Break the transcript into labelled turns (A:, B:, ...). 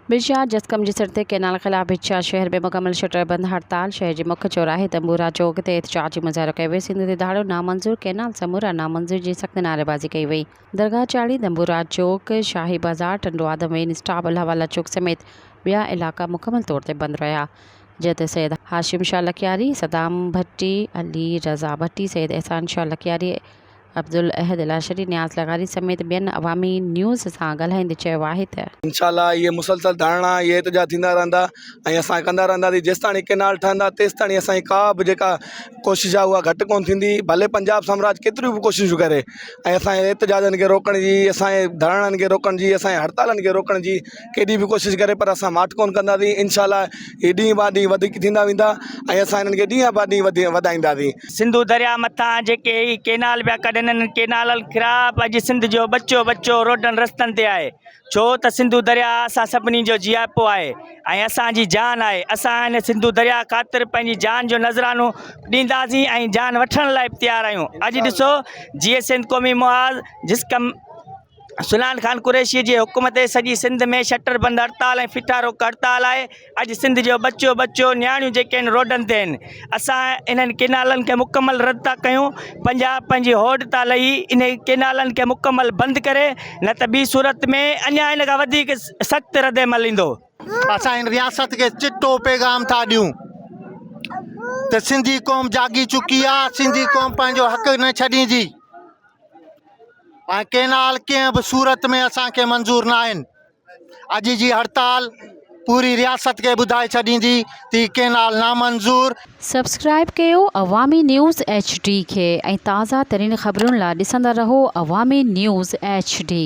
A: بشيار جسقم جي سر تي ڪئنال خلاف بشيار شهر ۾ مڪمل شٽر بند هڙتال، شهر جي مک چوراهي تنبورا چوڪ تي احتجاجي مظاهرو ڪيو ويو، سنڌ تي ڌاڙو نامنظور، ڪئنال سمورا نامنظور جي سخت نعريبازي ڪئي وئي، درگاهه چاڙهي، تنبورا چوڪ، شاهي بازار، ٽنڊو آدم وين اسٽاپ، الله والا چوڪ سميت ٻيا علائقا مڪمل طور تي بند رهيا جنهن تي سيد هاشم شاهه لڪياري، صدام ڀٽي، علي رضا ڀٽي، سيد احسان شاهه لڪياري، عبدالاحد لاشري نياز لغاري سميت ٻين عوامي نيوز سان ڳالهائيندي چيو آهي ته. انشاء الله اهي مسلسل
B: ڌرڻا ۽ احتجاج ٿيندا رهندا ۽ اسان ڪندا رهنداسين جيستائين هي ڪئنال ٺهندا تيستائين اسان جي ڪا به جيڪا ڪوشش آهي اها گهٽ ڪونه ٿيندي ڀلي پنجاب سامراج ڪيتريون به ڪوششون ڪري ۽ اسان جي احتجاجن کي روڪڻ جي اسان جي ڌرڻن کي روڪڻ جي اسان جي هڙتالن کي روڪڻ جي ڪيڏي به ڪوشش ڪري پر اسان ماٺ ڪونه ڪنداسين انشاء الله هي ڏينهن بعد ڏينهن وڌيڪ ٿيندا ويندا ۽ اسان هنن کي ڏينهن بعد ڏينهن وڌي وڌائينداسين سنڌو درياء
C: مٿان جيڪي هي ڪينال پيا ڪڍن انهن ڪينالن خراب اڄ سنڌ جو ٻچو ٻچو روڊن رستن تي آهي ڇو ته سنڌو درياء اسان سڀني جو جياپو آهي ۽ اسان جي جان آهي اسان هن سنڌو درياء خاطر پنهنجي جان جو نذرانو ڏينداسين ۽ جان وٺڻ لاء به تيار آهيون اڄ ڏسو جيئي سنڌ قومي محاذ جس ڪم سلان خان قريشيء جي حڪم تي سڄي سنڌ ۾ شٽر بند هڙتال ۽ ڦٽا روڪ هڙتال آهي. اڄ سنڌ جو ٻچو ٻچو، نياڻيون جيڪي آهن روڊن تي آهن. اسان انهن ڪينالن کي مڪمل رد ٿا ڪيون. پنجاب پنهنجي هوڏ تان لهي انهي ڪينالن کي مڪمل بند ڪري نه ته ٻي صورت ۾ اڃا ان کان وڌيڪ سخت ردعمل ايندو. اسان هن رياست
D: کي چٽو پيغام ٿا ڏيون ته سنڌي قوم جاڳي چڪي آهي، سنڌي قوم پنهنجو حق نه ڇڏيندي. ۽ ڪينال ڪنهن به صورت ۾ اسان کي منظور نه آهن اڄ جي هڙتال پوري رياست کي ٻڌائي ڇڏيندي ته هي ڪينال نامنظور سبسڪرائب
A: ڪيو عوامي نيوز ايڇ ڊي کي ۽ تازا ترين خبرن لا ڏسندا رهو عوامي نيوز ايڇ ڊي.